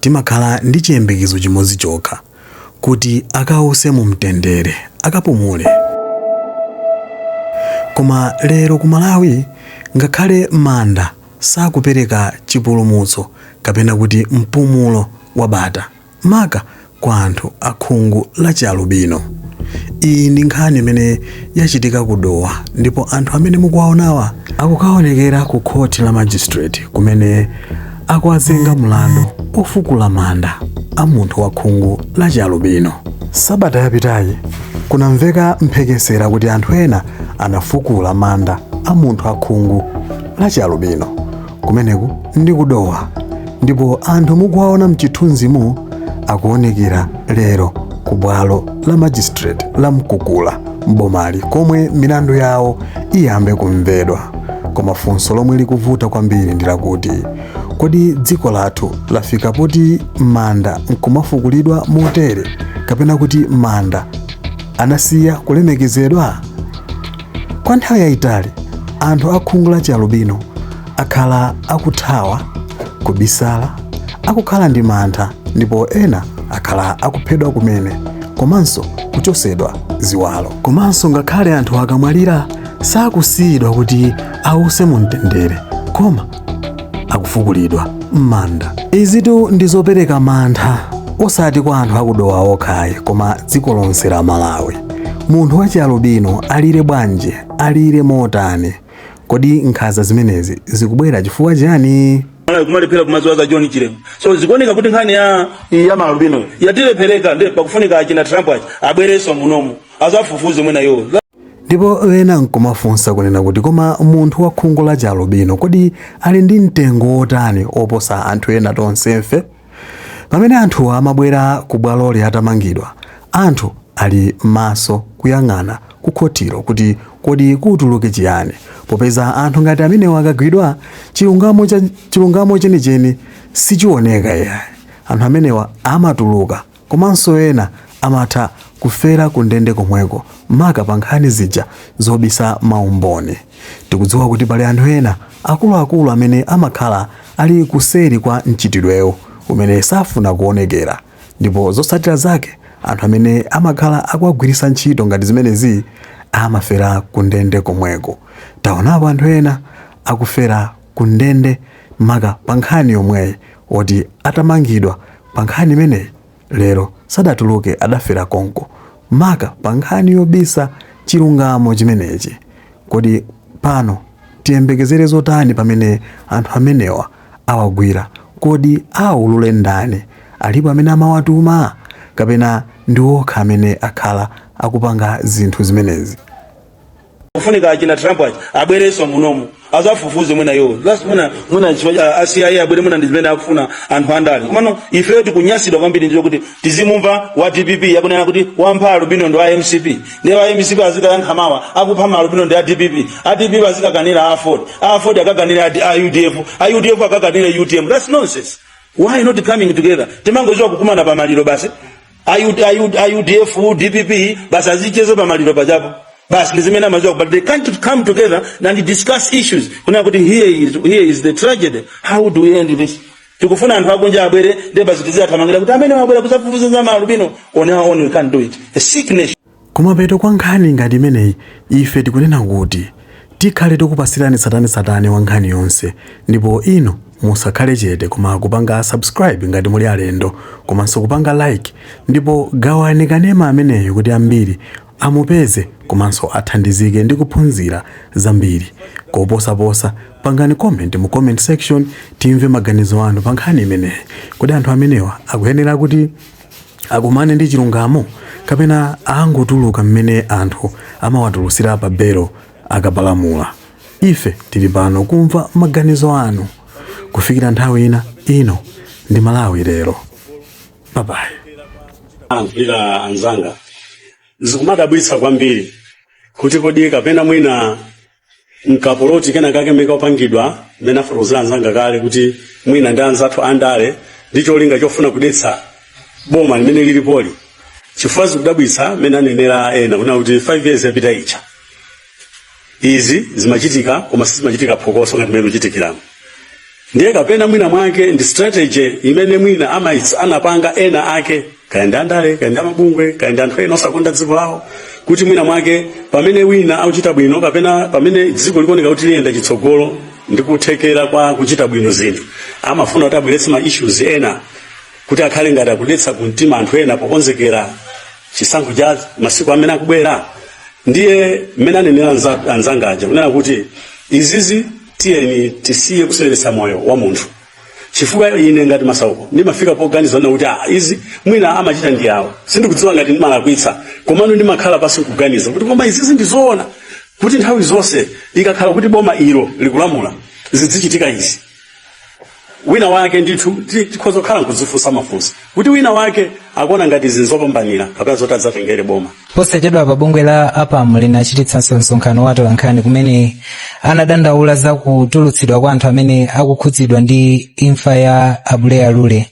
timakhala ndi chiyembekezo chimodzi chokha, kuti akause mu mtendere, akapumule. Koma lero ku Malawi ngakhale manda sakupereka chipulumutso kapena kuti mpumulo wabata, maka kwa anthu a khungu la chialubino. Iyi ndi nkhani imene yachitika ku Dowa ndipo anthu amene mukuwaonawa akukaonekera ku khoti la magistrate kumene akuwazenga mlandu ofukula manda a munthu wa khungu la chialubino. Sabata yapitayi kunamveka mphekesera kuti anthu ena anafukula manda a munthu a khungu la chialubino. Kumeneku ndi ku Dowa ndipo anthu mukuwaona mchithunzimu akuonekera lero ku bwalo la magistrate la Mkukula m'bomali komwe milandu yawo iyambe kumvedwa. Koma funso lomwe likuvuta kwambiri ndi lakuti kodi dziko lathu lafika poti manda nkumafukulidwa motere kapena kuti manda anasiya kulemekezedwa? Kwa nthawi yayitali, anthu a khungu la chialubino akhala akuthawa, kubisala, akukhala ndi mantha ndipo ena akhala akuphedwa kumene komanso kuchosedwa ziwalo. Komanso ngakhale anthu akamwalira sakusiyidwa kuti awuse mu mtendere koma akufukulidwa m'manda izitu ndi zopereka mantha osati kwa anthu a ku Dowa okha ayi koma dziko lonse la Malawi munthu wachialubino alire bwanji alire motani kodi nkhanza zimenezi zikubwera chifukwa chani Malawi kumalephera kumadziwa za John Chilema. So zikuoneka kuti nkhani ya ya maalubino yatilephereka ndi pakufunika achina Trump achi abwerenso munomu azafufuze mwina iwowo. Ndipo ena nkumafunsa kunena kuti, koma munthu wa khungu la chialubino kodi ali ndi mtengo wotani oposa anthu ena tonsefe? Pamene anthu amabwera ku bwaloli atamangidwa, anthu ali maso kuyang'ana ku khotilo kuti kodi kutuluke chiyani, popeza anthu ngati amenewa akagwidwa, chilungamo chenicheni sichioneka iyayi. Anthu amenewa amatuluka Komanso ena amatha kufera kundende komweko maka pa nkhani zija zobisa maumboni. Tikudziwa kuti pali anthu ena akuluakulu amene amakhala ali kuseri kwa mchitidwewu umene safuna kuonekera ndipo zotsatira zake anthu amene amakhala akuwagwiritsa ntchito ngati zimenezi amafera kundende komweko. Taonapo anthu ena akufera. ku ndende maka pa nkhani yomweyi oti atamangidwa pa nkhani imeneyi lero sadatuluke adafera konko maka pa nkhani yobisa chilungamo chimenechi kodi pano tiyembekezere zotani pamene anthu amenewa awagwira kodi aulule ndani alipo amene amawatuma kapena ndi okha amene akhala akupanga zinthu zimenezi kufunika achina Trump abwerenso munomu azafufuze mwina you trust mwina mwina chifukwa a CIA abwere mwina ndi zimene akufuna anthu andale komano ifeyo tikunyasidwa kwambiri ndicho kuti tizimumva wa DPP akunena kuti wampha alubino ndi wa MCP ndi wa MCP azikayankha mawa kuti akupha ma alubino ndi a DPP a DPP azikakanira Aford Aford akakanira a UDF a UDF akakanira UTM that's nonsense why not coming together timangoziwa kukumana pa maliro basi a UD, a UD, a UDF DPP basi azicheze pamaliro pajapo basi ndi zimene amaziwa but they can't come together and discuss issues kunena kuti here is, here is the tragedy how do we end this tikufuna anthu akunja abwere ndi basi tiziwathamangira kuti amene wabwera kuzafufuza za maalubino on our own we can't do it a sick nation Kumapeto kwa nkhani ngati imeneyi ife tikunena kuti tikhale tokupasirani tsatanetsatane wa nkhani yonse ndipo inu musakhale chete koma kupanga subscribe ngati muli alendo komanso kupanga like ndipo gawani kanema ameneyu kuti ambiri amupeze komanso athandizike ndi kuphunzira zambiri. Koposaposa pangani comment mu comment section timve maganizo anu pa nkhani imeneyi. Kodi anthu amenewa akuyenera kuti. akumane ndi chilungamo kapena angotuluka mmene anthu amawatulusira pa belo akapalamula ife tili pano kumva maganizo anu kufikira nthawi ina ino ndi Malawi Lero bye bye ayankhulira anzanga zikumadabwitsa kwambiri kuti kodi kapena mwina nkapoloti kena kake mmene kapangidwa mmene afotokozera anzanga kale kuti mwina ndi anzathu andale ndi cholinga chofuna kudetsa boma limene lilipoli chifukwa zikudabwitsa mmene anenera ena kunena kuti 5 years yapita ija izi zimachitika koma sizimachitika phokoso ngati mmene zikuchitikiramo ndiye kapena mwina mwake ndi strategy imene mwina ama anapanga ena ake kaya ndi andale kaya ndi a mabungwe kaya ndi anthu ena osakonda dziko lawo kuti mwina mwake pamene wina akuchita bwino kapena pamene dziko likuoneka kuti liyenda chitsogolo ndi kuthekera kwa kuchita bwino zinthu amafuna kuti abweretse ma issues ena kuti akhale ngati akudetsa kumtima anthu ena pokonzekera chisankho cha masiku amene akubwera ndiye mmene anenera anza- anzanga aja kunena kuti izizi tiyeni tisiye kuseweretsa moyo wa munthu chifukwa ine ngati masauko ndimafika poganiza na kuti ah, izi mwina amachita ndi awo sindikudziwa ngati ndimalakwitsa komano ndimakhala pansi kuganiza kuti koma izizi ndizoona kuti nthawi zonse ikakhala kuti boma ilo likulamula zidzichitika izi wina wake ndithu ti- tikhoza kukhala nkudzifunsa mafunso kuti wina wake akuona ngati izi nzopambanira kapena zoti adzatengere boma posachedwapa bungwe la apam linachititsanso msonkhano wa atolankhani kumene anadandaula za kutulutsidwa kwa anthu amene akukhudzidwa ndi imfa ya abuleya lule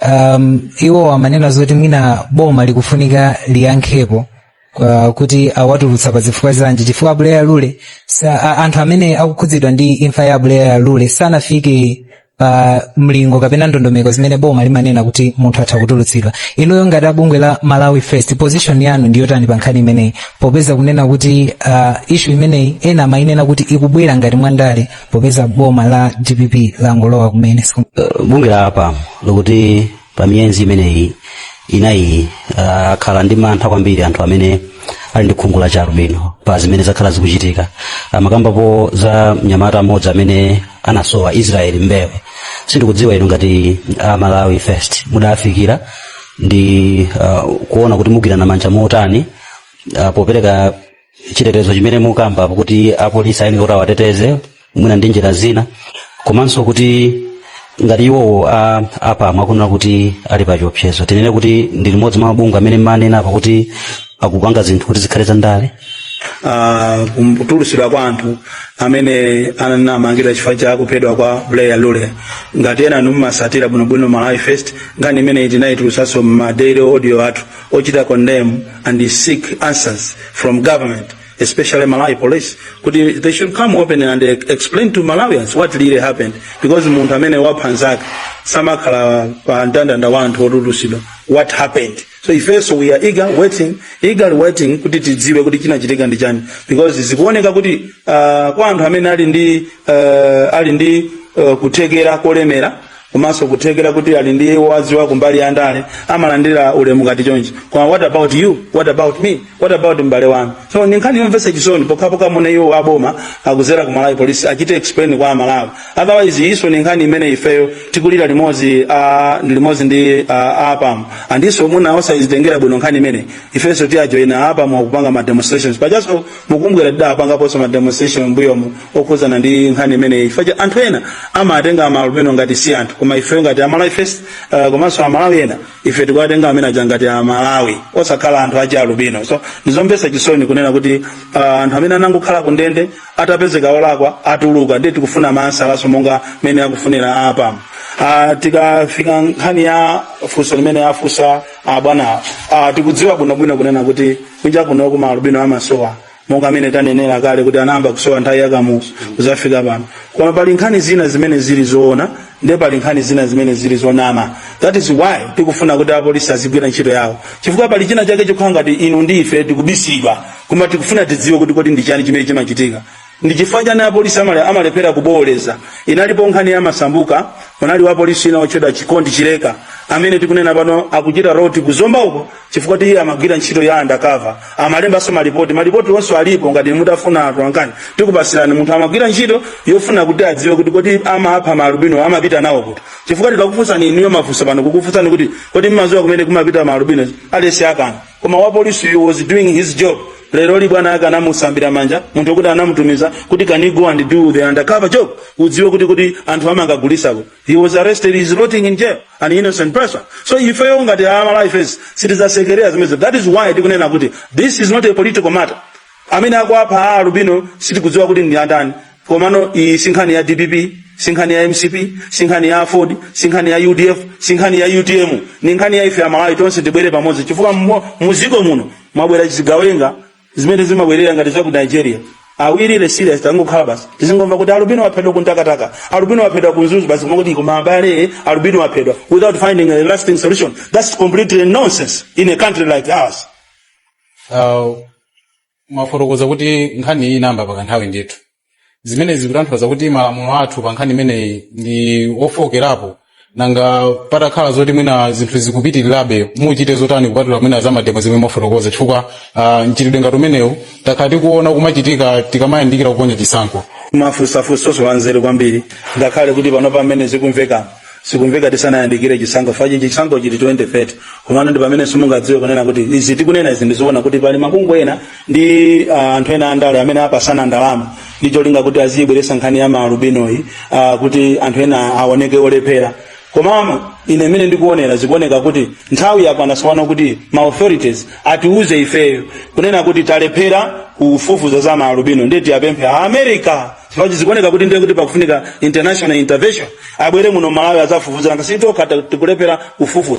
um, iwo amanena zoti mwina boma likufunika liyankhepo kwa kuti awatulutsa pa zifukwa zanji chifukwa abuleya lule sa, a, anthu amene akukhudzidwa ndi imfa ya abuleya lule sanafike pa mlingo kapena ndondomeko zimene boma limanena kuti munthu atha kutulutsidwa inuyo ngati abungwe la malawi first position yanu ndiyotani pa nkhani imeneyi popeza kunena kuti uh, issue imeneyi ena amayinena kuti ikubwera ngati mwandale popeza boma la dpp langolowa kumene uh, bungwe la apam likuti pa miyenzi imeneyi inayi akhala ndi mantha kwambiri anthu amene ali ndi khungu la chialubino pa zimene zakhala zikuchitika amakambapo za mnyamata mmodzi amene anasowa israel mbewe sindikudziwa inu ngati amalawi first mudafikira ndi uh, kuona kuti mugwirana manja motani uh, popereka chitetezo chimene mukamba kuti apolisi ayenera kuti awateteze mwina ndi njira zina komanso kuti ngati iwowo a apam akunena kuti ali pa chiopsezo tinene kuti ndi limodzi mwa mabungwe amene mumanena apa kuti akupanga zinthu kuti zikhale zandale Ah, kutulusidwa kwa anthu amene anamangidwa chifukwa cha kuphedwa kwa Abuleya Lule ngati enanu mumasatira bwinobwino Malawi First nkhani imene tinaitulusanso m'ma daily audio athu ochita condemn and seek answers from government especially Malawi police kuti they should come open and explain to Malawians what really happened because munthu amene wapha nzake samakhala pa mndandanda wa anthu otulusidwa what happened so ifenso we are eager waiting eagerly waiting kuti tidziwe kuti chinachitika ndi chani because zikuoneka kuti uh, kwa anthu amene ali ndi uh, ali ndi uh, kuthekera kolemera komanso kuthekera kuti ali ndi owaziwa kumbali ya ndale amalandira ulemu ngati chonchi koma what about you what about me what about mbale wanu so ndi nkhani yomvetsa chisoni pokhapokha mwina iwo aboma kuzera ku malawi polisi achite explain kwa amalawi otherwise iso ndi nkhani imene ifeyo tikulira limodzi ah, ndi limodzi ndi ah, apam andiso mwina osayizitengera bwino nkhani imene ifenso tiwajoyina apam akupanga ma demonstrations pajaso mukumbukira tidapangaponso ma demonstration mbuyomu okhudzana ndi nkhani imeneyi chifukwa cha anthu ena amatenga maalubino ngati si anthu koma ife ngati Malawi First uh, komanso amalawi ena ife tikuwatenga amene aja ngati amalawi osakhala anthu achialubino so ndi zomvetsa chisoni kunena kuti uh, anthu amene anangokhala ku ndende atapezeka olakwa atuluka ndiye tikufuna mayankhonso monga mmene akufunira APAM uh, tikafika nkhani ya funso limene afunsa abwanawo uh, tikudziwa bwinobwino kunena kuti kunja kuno kuno maalubino amasowa monga mmene tanenera kale kuti anayamba kusowa nthawi ya Kamuzu kuzafika pano koma pali nkhani zina zimene zili zoona ndi pali nkhani zina zimene zili zonama that is why tikufuna kuti apolisi azigwira ntchito yawo chifukwa pali china chake chokhala ngati inu ndi ife tikubisidwa koma tikufuna tidziwe kuti kodi ndi chani chimene chimachitika ndi chifukwa chani apolisi amale- amalephera kubooleza inalipo nkhani ya Masambuka munali wapolisi wina otchedwa Chikondi Chileka amene tikunena pano akuchita rot ku Zomba uko chifukwa choti iye amagwira ntchito ya undercover amalembanso malipoti malipoti onse alipo ngati mutafuna atolankhani tikupatsirani munthu amagwira ntchito yofuna kuti adziwe kuti kodi amapha maalubino amapita nawo kuti chifukwa tikakufunsani inuyo mafunso pano kukufunsani kuti kodi mmadziwa kumene kumapita maalubino aliyense akana koma wapolisi he was doing his job leroli bwana ake anamusambira manja munthu okuti anamutumiza kuti can you go and do the undercover job udziwe kuti kodi anthu amangagulisa kuti He was arrested, he's rotting in jail, an innocent person. So ifeyo ngati Malawi First sitizasekerera zimenezi that is why tikunena kuti this is not a political matter. Amene akuwapha alubino sitikudziwa kuti ndi andani. Komano iyi sinkhani ya DPP, sinkhani ya MCP, sinkhani ya AFORD, sinkhani ya UDF, sinkhani ya UTM, ni nkhani ya ife amalawi tonse tibwere pamodzi chifukwa mmo- muziko muno mwabwera zigawenga zimene zimaberera ngati za ku Nigeria are we really serious tangokhala basi tizingomva kuti alubino waphedwa ku Mtakataka alubino waphedwa ku Mzuzu basi kumati koma abale alubino waphedwa without finding a lasting solution that's completely nonsense in a country like ours uh, mwafotokoza kuti nkhani iyi inayamba pa kanthawi ndithu zimenezi zikutanthauza kuti malamulo athu pa nkhani imeneyi ndi ofookerapo nanga patakhala zoti mwina zinthu zikupitirirabe muchite zotani kupatula mwina za mademo zimene mwafotokoza chifukwa uh, mchitidwe ngati umenewu takhala tikuona kumachitika tikamayandikira kuponya chisankho mwafunsa funso lanzeru kwambiri ngakhale kuti pano pamene zikumvekana zikumveka tisanayandikire chisankho chifukwa chisankho chili 2030 komano ndi pamene simungadziwe kunena kuti izi tikunena izi ndi zoona kuti pali mabungwe ena ndi uh, anthu ena andale amene apatsana ndalama ndi cholinga kuti aziyibweresa nkhani ya maalubinoyi uh, kuti anthu ena aoneke olephera komano ine mene ndikuonera zikuoneka kuti nthawi yakwana tsopano kuti ma authorities atiuze ifeyo kunena kuti talephera kufufuza za maalubino ndiye tiwapemphe a America chifukwa zikuoneka kuti ndiye kuti pakufunika international intervention abwere muno Malawi azafufuze nanga si tokha tikulephera kufufuza